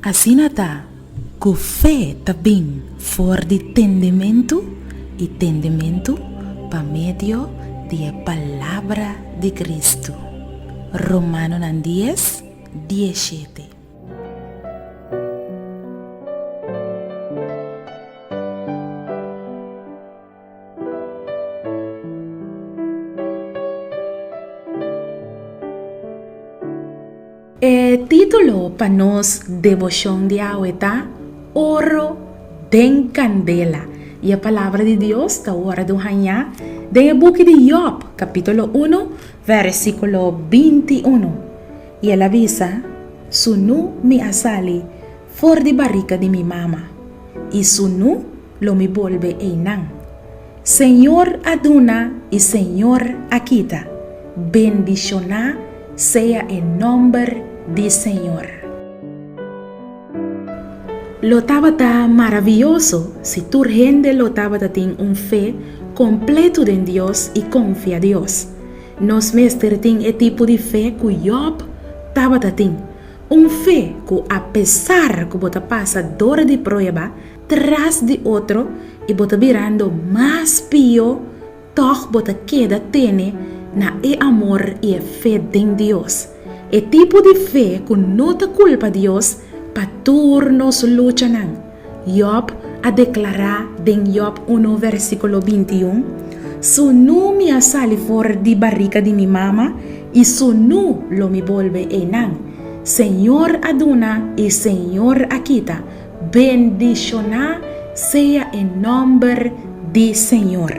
Asina ta, ku fe ta bin for di tendementu, i tendementu pa medio di e palabra di Kristu. Romanonan dies, die shete. E título pa nos deboshon di awe ta Oro den kandela, i e palabra di Dios ta wòrdu hañá den e buki di Yòb, kapítulo uno, vèrsikulo binti unu. I el a bisa, Su nu mi a sali for di barika di mi mama, i su nu lo mi bolbe einan. Señor a duna i Señor a kita, bendishoná sea e nòmber di Señor. Lo tabata maravioso si tur hende lo tabata tin un fe kompletu den Dios i konfia Dios. Nos mester tin e tipo di fe ku Jòb tabata tin, un fe ku apesar ku bo ta pasa dor di prueba tras di otro i bo ta birando mas pio, tòg bo ta keda tene na e amor i e fe den Dios. E tipo di fe ku no ta kulpa Dios pa tur nos luchanan. Jòb a deklará den Jòb unu vèrsikulo binti un, Su nu mi a sali for di barika di mi mama i su nu lo mi bolbe einan. Señor a duna i Señor a kita. Bendishoná sea e nòmber di Señor!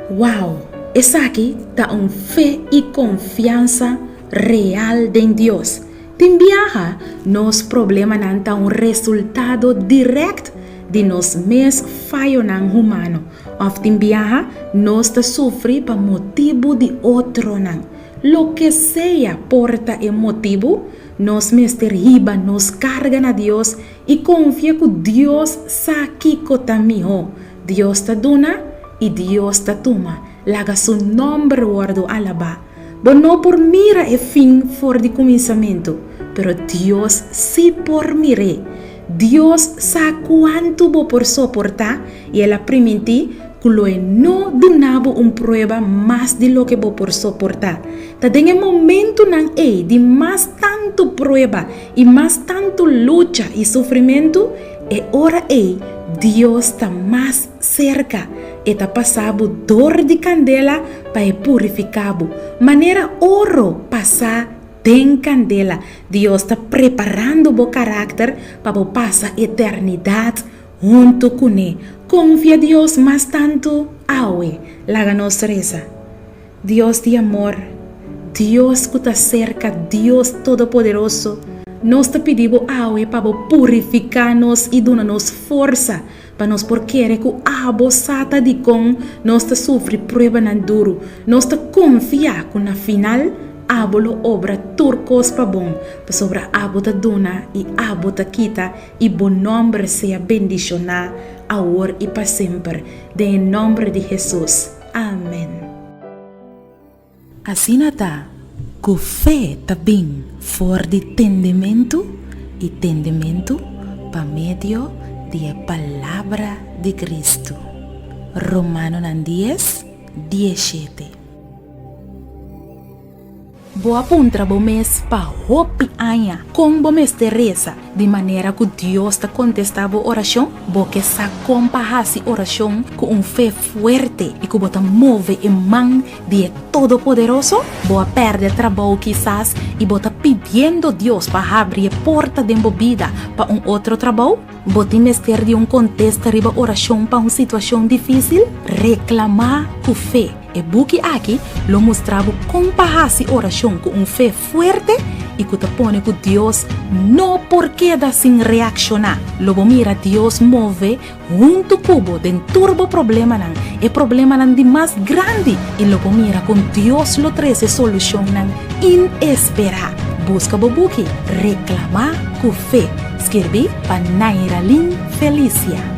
Wou! Esaki ta un fe i konfiansa real den Dios! Tin biaha nos problemanan ta un resultado dirèkt di nos mes fayonan humano, òf tin biaha nos ta sufri pa motibu di otronan. Loke sea por ta e motibu, Nos mester hiba nos karga na Dios i konfia ku Dios sa kiko ta mihó. Dios ta duna i Dios ta tuma, laga Su nòmber wòrdu alabá. Bo no por mira e fin for di kuminsamentu, pero Dios sí por mir'é. Dios sa cuantu bo por soportá i el a primintí cu Loe no duna bo un prueba mas di loke bo por soportá. Ta den e momentunan ei di mas tantu prueba i mas tantu lucha i sufrimentu, e ora ei Dios ta mas serka. E ta pasá bo dor di candela pa e purificá bo, manera oro pasá den candela. Dios ta preparando bo karakter pa bo pasa eternidat huntu kuné. Konfia Dios mas tantu awe. Laga nos resa, Dios di amor, Dios ku ta serka, Dios todopoderoso, nos ta pidi bo awe pa bo purifiká nos i duna nos forsa Pa nos por kere ku abo sa ta dikon nos ta sufri pruebanan duru, nos ta konfia ku na final abo lo obra tur kos pa bon, pasobra abo ta duna i abo ta kita, i bo nòmber sea bendishoná awor i pa semper. Den e nòmber di Hesus. Amen. Asina ta, ku fe ta bin for di tendementu, i tendementu pa medio di e palabra di Kristu. Romanonan dies, dies shete. Bo a puntra bo mes pa hopi aña kon bo mester resa. Di manera ku Dios ta kontestá bo orashon, bo ke sa kon pa hasi orashon ku un fe fuerte i ku bo ta move e man di e Todopoderoso? Bo a pèrdè trabou kisas i bo ta pidiendo Dios pa habri e porta den bo bida pa un otro trabou? Bo tin mester di un kontesta riba orashon pa un situashon difísil? Reklamá ku fe. E buki aki lo mustra bo kon pa hasi orashon ku un fe fuerte i ku ta pone ku Dios no por keda sin reakshoná. Lo bo mira Dios move huntu ku bo den tur bo problemanan, e problemanan di mas grandi, i lo bo mira kon Dios lo trese solushonnan inesperá. Buska bo buki Reklamá ku fe, skirbí pa Nairalyn Felicia.